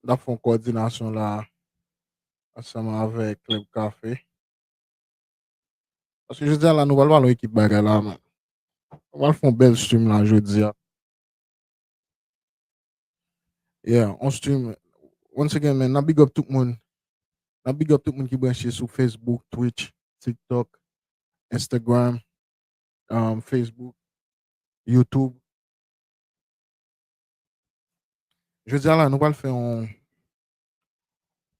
N ap fè yon kòdinasyon la ansanm avèk Club Café. Paske jodi a la nou pral pale yon ekip bagay la men. Nou pral fè yon bèl stream la jodi a. Yeah, on stream. Once again men, n ap big up tout moun. N ap big up tout moun ki branche sou Facebook, Twitch, TikTok, Instagram, Facebook, Youtube. Jodia la nou pral fè yon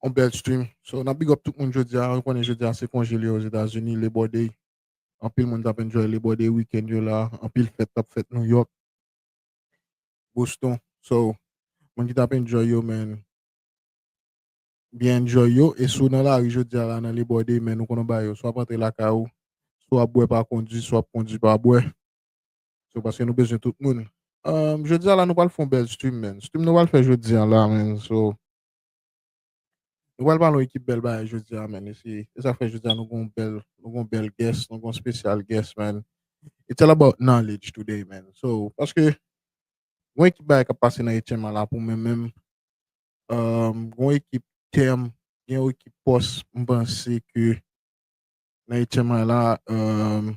yon bèl stream. So nan big up tout moun jodia, nou konnen jodia se konje li yo Ozetazini, Labor Day. Anpil moun tap enjoy Labor Day weekend yo la, anpil fèt tap fèt New York, Boston. So moun ki tap enjoy yo men byen enjoy yo e si w nan lari jodia la nan Labor Day men nou konn yon bagay yo swa ap antre lakay ou, swa ap bwè pa kondi, swa ap kondi pa bwè. So paske nou bezwen tout moun. Um, jodi a la nou pral fon bèl stream men. Stream nou pral fè jodi an la men. So nou pral balon ekip bèl bagay jodi a men. E si e sa fè jodi a nou gon bèl nou gon bèl guest, nou gon special guest men. It's all about knowledge today men. So paske gon ekip bagay kap pase nan etyèm an la pou men men. Um, gon ekip tèm, gen yon ekip pòs mpanse ke nan etyèm an la um,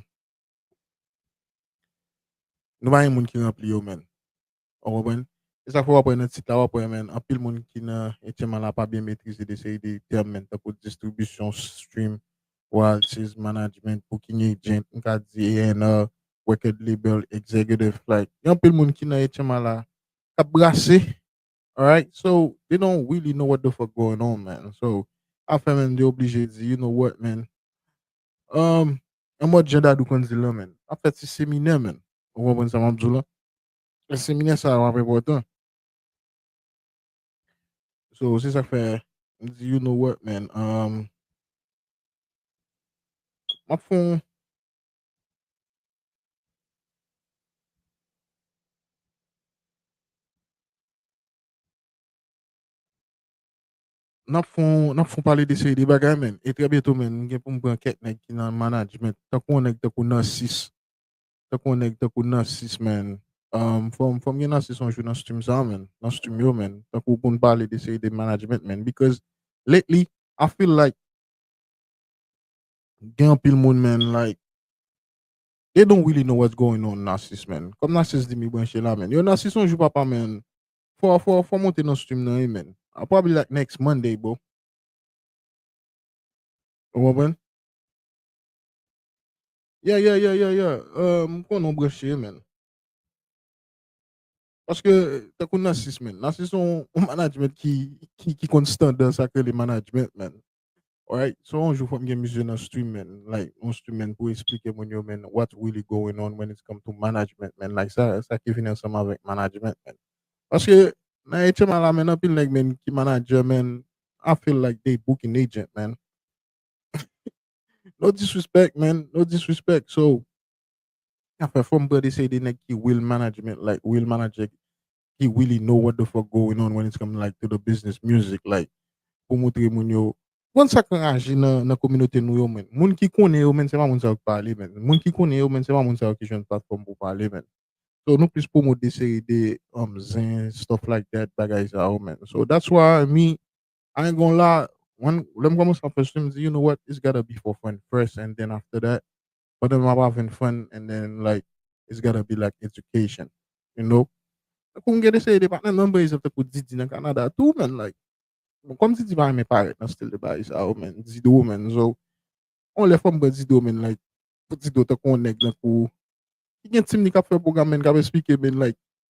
Nou pa gen moun ki ranpli yo men. Ou konprann? E sa fè wap wè nan tit la wap wè men anpil moun ki nan etyeman la pa byen metrize de seri de tèm men tankou distribisyon, stream, royalties, management, booking agent, m ka di A&R, record label, executive like gen anpil moun ki nan etyeman la kap brase alright so they don't really know what the fuck going on man so afè men m te oblije di you know what man Umm an mòd jan Dadou konn dil lan menn ap fè ti seminè menn ou konprann sa map diw lan fè seminè sa yo ap enpòtan so se sak fè m di you no wòt menn umm map fon Nap fon nap fon pale de seri de bagay menn e trè byento menn m gen pou m pran kèk nèg ki nan management tankou yon nèg tankou Narcisse tankou yon nèg tankou Narcisse menn m fò m fò m gen Narcisse yon jou nan stum sa menn nan stum yo menn tankou pou n pale de seri de management menn because lately I feel like gen anpil moun menn like they don't really know what's going on Narcisse menn kòm Narcisse di m li branche la menn yo Narcisse yon jou papa menn Fò fò fò monte nan stream nan wi menn. I'll probably like next Monday bro. Ou konprann? Yeah yeah yeah yeah yeah euh m konnen w branche menn. Paske tankou Narcisse menn, Narcisse se yon management ki ki ki konn standard sa k rele management menn. Alright so yon jou fòm gen misye nan stream man like yon stream man pou esplike moun yo man what really going on when it's come to management man like sa sa ki vini ansanm avèk management man paske nan HMI la man anpil nèg man ki manager man I feel like they booking agent man no disrespect man no disrespect so afè fòm pran de se de nèg ki real management like real manager ki really know what the fuck going on when it's come like to the business music like pou moutre moun yo Moun sak anraje nan kominote nou yo menn moun ki konnen yo menn se pa moun sa yo k pale menn moun ki konnen yo menn se pa moun sa yo ki jwenn platfòm pou pale menn so nou plis promote de seri de zen stuff like that bagay sa yo menn so that's why me I ain't gonna lie lè m kòmanse ap fè sou m di you know what it's gotta be for fun first and then after that But then wap avèn friend and then like it's gotta be like education you know. Tankou m gen de seri de patnè nan Brezil tankou Didi nan Canada tou man like bon kòm Didi pa renmen parèt nan stil de bagay sa yo man Dido man so yon lè fòm pran Dido man like pou Dido tankou yon nèg tankou ki gen team li kap fè program man kap esplike man like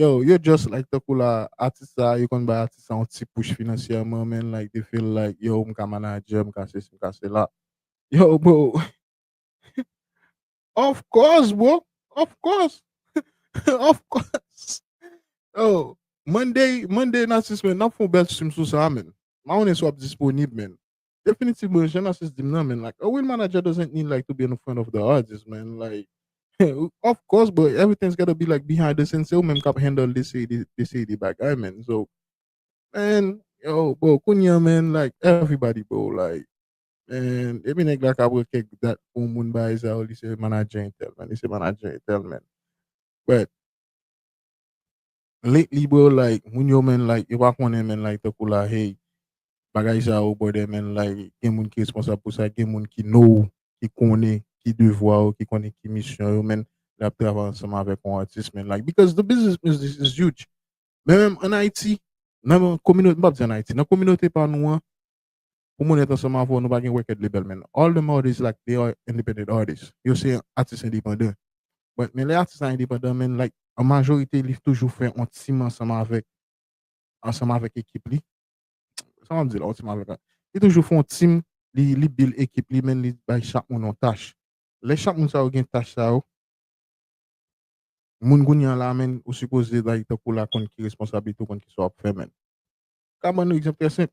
Yow yo just like tankou la atis sa yo konn bay atis sa yon ti push finansyèman men like they feel like yow m ka manager m ka sesi m ka sela yow bro of course bro of course of course yow Monday Monday and atis men nap fon bèl stream sou sa men ma konnen si wap disponib men Definitivman jan Narcisse dim nan man like a real manager doesn't need like to be in front of the artist man like of course bro everything's gotta be like behind the scene se ou menm kap handle de seri de de seri de bagay man so man yo bro kounye an man like everybody bro like man depi nèg la ka pran kèk dat pou yon moun bagay sa yo li se manager entèl man li se manager entèl man but Lately bro like moun yo menn like yo pa konnen menn like tankou la hey bagay sa yo bòdè menn like gen moun ki responsab pou sa gen moun ki know ki konnen ki devwa yo ki konnen ki misyon yo menn lè yap travay ansanm avèk yon atis menn like because the business music is huge menm an ayiti nan kominote m pap di an ayiti nan kominote pa nou an Pou moun etan sanm avw nou pa gen record label man all them artist like they are independent artist yo se atis endepandan but men lè atis la endepandan man like an majorite li toujou fè on team ansanm avèk ansanm avèk ekip li sa map di la on team avèk a li toujou fè on team li li build ekip li man li bay chak moun on tach lè chak moun sa yo gen tach sa yo moun kounye an la man ou sipoze like tankou la konn ki responsablite ou konn kisa wap fè man ka bannou egzanp trè senp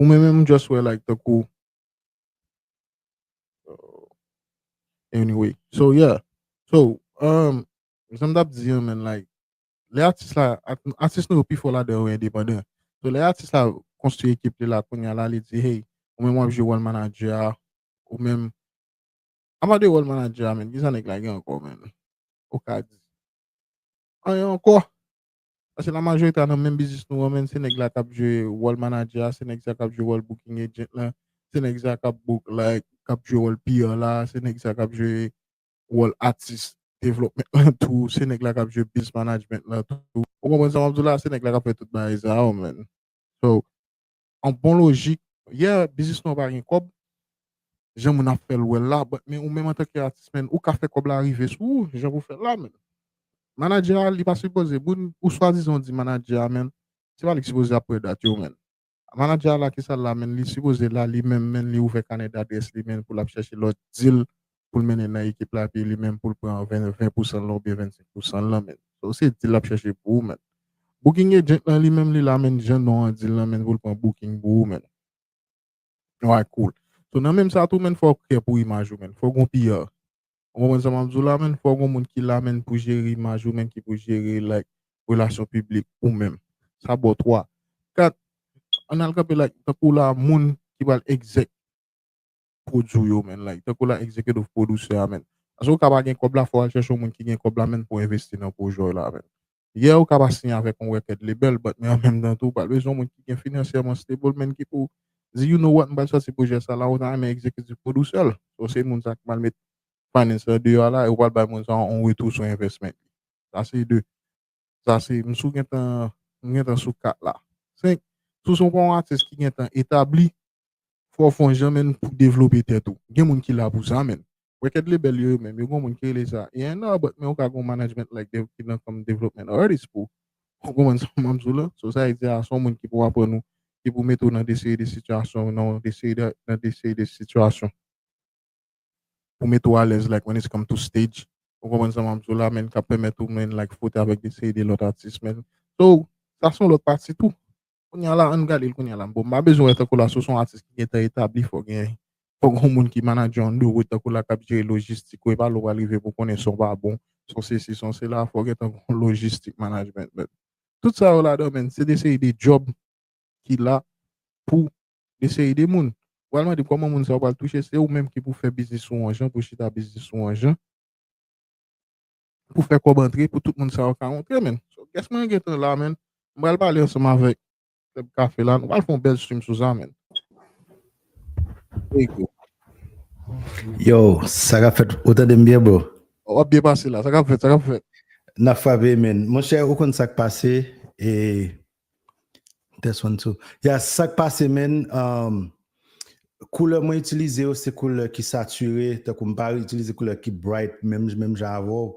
Ou men menm just wè like tankou Anyway, so yeah So, um, sa m tap di an men like Lè atis la, atis nou yo pi fò ladan yo endepandan So lè atis la konstwi ekip li la kounya la li di hey Ou menm wap jwe wòl manager a Ou menm Apa de wòl manager a menn kisa nèg la gen ankò menn Ou ka di Anyen ankò Paske la majorite a nan menm biznis nou an menn se nèg la kap jwe wòl manadjè a, se nèg sa kap jwe wòl booking agent la, se nèg sa kap book la, kap jwe wòl PR la, se nèg sa kap jwe wòl atis development lan tou, se nèg la kap jwe biz management lan tou. Ou konprann sa map diw la, se nèg la kap fè tout bagay sa yo menn. So, an bon lojik. Yeah biznis nou an pa gen kòb jan moun ap fèl wèl la but men ou menm antanke atis menn ou ka fè kòb la rive sou ou jan pou fèl la menn. Manadjè a li pa sipoze moun ou swadizan ou di manadjè a menn se pa li ki sipoze ap pran dat yo menn. Manadjè a la kisal la menn li sipoze la li menm menn li ouvè kanè dadrès li menn pou lap chèche lòt dil pou l mennen nan ekip la epi li menm pou l pran 20 pousan l lan oubyen 25 pousan l lan menn sa w se dil lap chèche pou ou menn booking agent lan li menm li la menn jan non an dil lan menn pou l pran booking pou ou menn alright cool so nan menm sa tou menn fò w klè pou imaj ou menn fò w gon PR ou konprann sa map di w la menn fò w gon moun ki la menn pou jere imaj ou menn ki pou jere like relasyon piblik ou menm sa bon 3 4 ann al kanpe like tankou w la moun ki pral exec. produce ou yo man like tankou la executive producer a man paske ou ka pa gen kòb la fòw al chèche yon moun ki gen kòb la man pou envesti nan projè w la man yeah ou ka pa siyen avèk yon record label but men an menm tan tou ou pral bezwen yon moun ki gen finansyèman stable man ki pou di you know what m pral sòti projè sa la ou ta renmen executive producer l so se moun sa ki pral met finance lan deyò a la e ou pral bay moun sa yon retou sou investment li sa se 2 Sa se m sou gentan m gentan sou 4 la. 5, Si w se yon pa yon atis ki gentan etabli, fò w fè yon jan menn pou devlope tèt ou. Gen moun ki la pou sa menn. Wè kèd lebèl yo yo menm, yo gen yon moun ki rele sa A&R but men ou ka gen yon management like dev ki nan kòm development artist pou ou konprann sa m ap di w la. So sa e di a se yon moun ki pou aprann ou, ki pou mete w nan de seri de sitiyasyon nan de seri de nan de seri de sitiyasyon. pou mete w alèz like when it's come to stage ou konprann sa map di w la menn kap pèmèt ou menn like frote avèk de seri de lòt atis menn so sa son lòt pati tou kounya la ann gade l kounya la bon m pa bezwen wè tankou la si w son atis ki gentan etabli fò gen fò gon moun ki manadjè w ann ro tankou la kap jere lojistik ou epa lè w pral rive pou konnen son pa bon son sesi son sela fò gentan gon lojistik manajmènt menn tout sa yo ladan menn se de seri de djòb ki la pou Gen seri de moun. Ou pral mande kòman moun sa yo pral touche, se ou menm ki pou fè biznis ou an jan, pou chita biznis ou an jan, pou fè kòb antre, pou tout moun sa yo ka rantre menn. So guest mwen gentan la menn. M pral pale ansanm avèk Club Café la. Nou pral fè yon bèl stream sou sa menn. Ego. Yo, sa kap fèt? Ou tande m byen bro? Ou ap byen pase la. Sa kap fèt? Sa kap fèt? Nap frape menn. Monchè ou konn sak pase e Test one two yes sak pase menn koulè mwen itilize yo se koulè ki sature tankou m pa itilize koulè ki bright menm menm jan avèw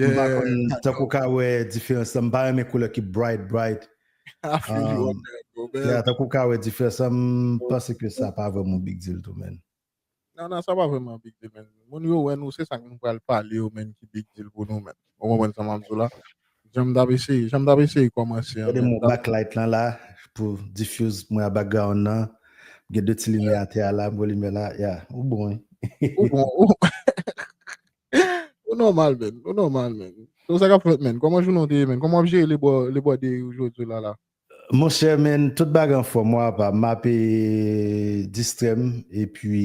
m pa konn tankou ka wè diferans lan m pa renmen koulè ki bright bright tankou ka wè diferans lan m panse ke sa pa vèm yon big deal tou menn. Nan nan sa pa vreman big deal men moun yo wè nou se sak nou pral pale yo menm ki big deal pou nou menm ou konprann sa map di w la janm tap eseye janm tap eseye kòmanse an Ede men m tap back light lan la pou diffuse mwen a background nan m gen 2 ti limyè atè a la m wè limyè la ya ou bon wi. Ou bon ou ou nòmal menn ou nòmal menn se ou sa kap fèt menn kòman jounen w te ye menn kòman wap jere le bò le bò deri w jodi w la la Monchè men tout bagay anfòm wa apa map distrèm epi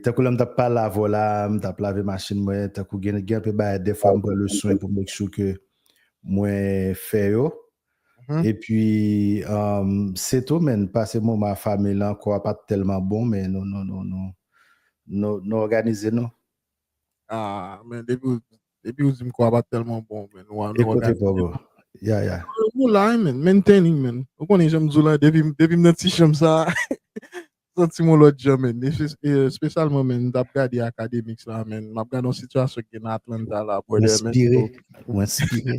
tankou lèm tap pale avè w la m tap lave machin mwen tankou gen anpe bagay dèfwa m pran leswen pou make sure ke mwen fè yo epi se tou men pase moman a fanmi lan kò a pat tèlman bon men nou òganize nou. Ah men depiw Depi ou dim kwabat telman bon men nou an nou an gade. Ekote bro. Ya ya. Ou la men, maintaining men. Ou konnen janm di w la depi depi m nan ti chanm sa santi m on lòt jan men. Espesyalman men m tap gade akademiks la men, map gade yon sitiyasyon ki gen nan Atlanta la brother men. Mwen enspire. Mwen enspire.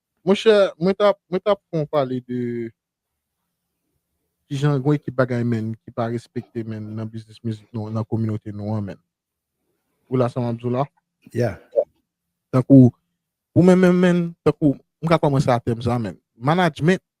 Monchè mwen tap mwen tap fon pale de kijan gon ekip bagay menn ki pa respekte menn nan biznis mizik nou nan kominote nou an menn ou la sa map diw la? Yeah. Tankou pou mwen menm menn tankou m ka kòmanse a tèm sa menn management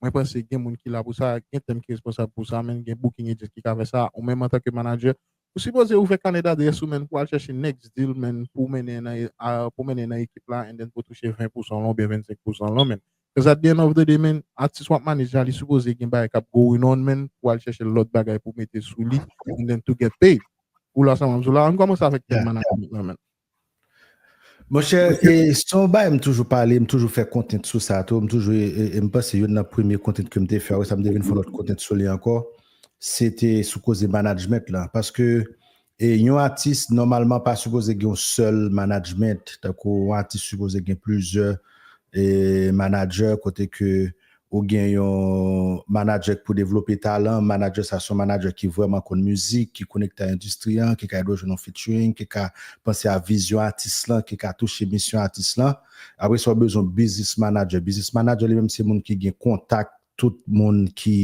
Mwen panse gen moun ki la pou sa, gen tèm ki responsab pou sa, men gen booking agent ki ka fè sa, ou menm antanke manager, ou sipoze ouvè kanè d'adresse ou menn pou al chèche next deal menn pou mennen nan pou mennen nan ekip la and then pou touche 20 pousan lan oubyen 25 pousan lan menn cuz at the end of the day menn atis wap manage la li sipoze gen bagay kap going on menn pou al chèche lòt bagay pou mete sou li and then to get paid ou la sa map di w la ann kòmanse avèk tèm management lan menn. Monchè, e se yon bagay m toujou pale, m toujou fè kontent sou sa tou, m toujou, e m panse youn nan premye kontent ke m te fè, wè sa m te vin fè yon lòt kontent sou li ankò, se te sou koze management lan, paske e yon atis nòmalman pa sipoze gen yon sèl management, tankou yon atis sipoze gen plizyè e manager kote ke Ou gen yon manadjè k pou devlope talan, manadjè sa se yon manadjè ki vrèman konn mizik, ki konekte a endistri an, ki ka ede w jwenn yon featuring, ki ka panse a vizyon atis lan, ki ka touche misyon atis lan. Apre sa ou bezwen yon biznis manadjè. Biznis manadjè li menm se moun ki gen kontak tout moun ki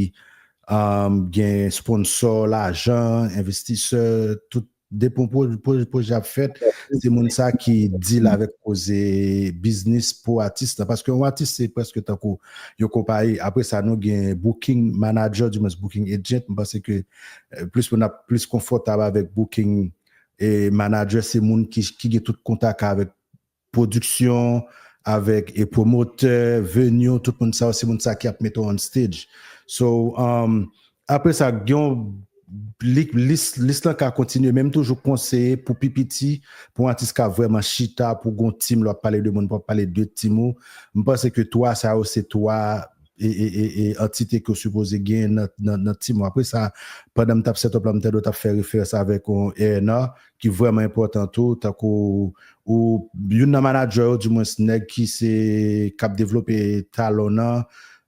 gen sponsò, lajan, envestisè, tout Depi yon pwojè ap fèt, se moun sa ki deal avèk koze biznis pou atis la. Paske yon atis se prèske tankou yon konpayi. Apre sa nou gen booking manager, di mwens booking agent. M panse ke plis moun ap plis konfòtab avèk booking manager. Se moun ki gen tout kontak avèk Production avek promoter, venue tout moun sa yo se moun sa ki ap mete w on stage. So apre sa gen yon lis lis lan ka kontinye men m toujou konseye pou pi piti pou yon atis ka vreman chita pou gen yon team lè w ap pale de moun pou w ap pale de team ou. M panse ke 3 sa yo se 3 antite ke w sipoze gen nan team ou. Apre sa pandan m t ap set up la m tande w t ap fè referans avek yon A&R ki vrèman enpòtan tou tankou ou youn nan manadjè yo di mwens nèg ki se kap devlope talon nan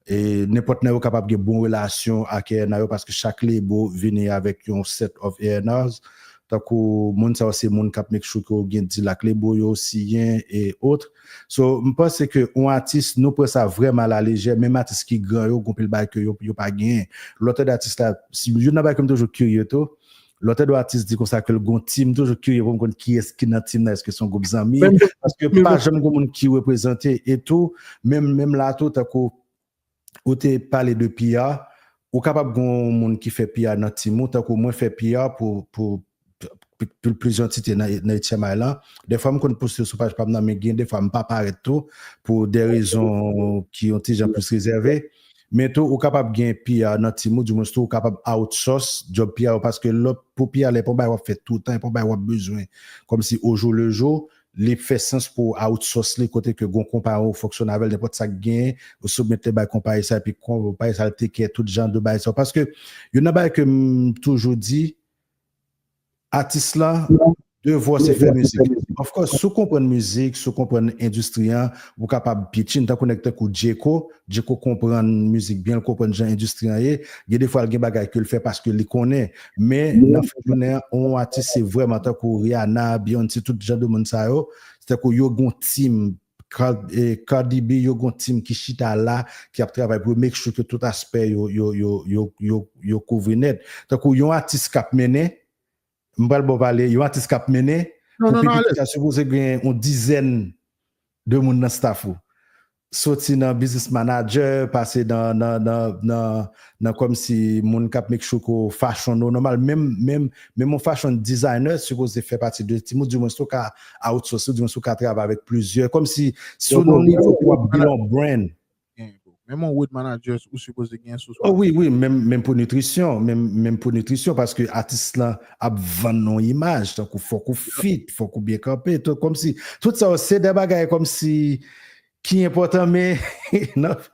e nenpòt nan yo kapab gen bon relasyon ak ENA yo paske chak lebo vini avèk yon set of ENAs tankou moun sa yo se moun kap make sure ke ou gen deal ak lebo yo siyen e autre so m panse ke yon atis nou pran sa vrèman ala lejè menm atis ki gran yo gon pil bagay ke yo pa genyen lòtède atis la youn nan bagay ke m toujou kirye tou Lòtè do atis di konsa ke l gon tim, m toujou kirye pou m konn kiyès ki nan tim nan, èske son gwoup zanmi, paske pa janm gon moun ki reprezante, e tou menm menm la tou tankou ou te pale de PR, ou kapab gon moun ki fè PR nan tim ou, tankou mwen fè PR pou pou pou plizyè antite nan nan HMI lan, dèfwa m konn poste sou paj pa m nan men gen dèfwa m pa parèt tou pou dè rezon ki yon ti jan plis rezève. Men tou ou kapab gen PR nan team ou, di mwens tou ou kapab outsource job PR ou paske lè pou PR lè pou bagay wap fè toutan, e pou bagay wap bezwen kòm si au jour le jour, li fè sans pou ou outsource li kote ke gon konpayi ou fonksyone avèl nenpòt sak genyen ou soumèt li bay konpayi sa epi konpayi sa al take care tout jan de bagay sa yo paske youn nan bagay kem toujou di. Atis la devwa w se fè mizik. Of course si w konprann mizik, si w konprann endistri an, ou kapab pitchin. Tankou nèg tankou Djeko, Djeko konprann mizik byen, l konprann jan endistri an ye. Gen defwa l gen bagay ke l fè paske li konnen. Men nan fen jounen an, yon atis se vrèman tankou Rihanna, Beyoncé, tout jan de moun sa yo, se tankou yo gen yon team Cardi B yo gon team ki chita la ki ap travay pou yo make sure ke tout aspè yo yo kouvri nèt. Tankou yon atis kap mennen, m pral baw pale, yon atis kap mennen pou pi piti sa sipoze gen yon dizèn de moun nan staff ou. Soti nan business manager, pase nan nan komsi moun kap make sure ke w fashion ou normal menm menm menm yon fashion designer sipoze fè pati de team ou di mwen si w ka outsource ou di mwen si w ka travay avèk plizyè komsi si w nan nivo pou wap build yon brand Menm yon road managers ou sipoze gen sou sa. Oh wi wi menm menm pou nitrisyon menm menm pou nitrisyon paske atis lan ap vann yon imaj tankou fòk ou fit fòk ou byen kanpe to komsi tout sa yo se de bagay komsi ki enpòtan men nan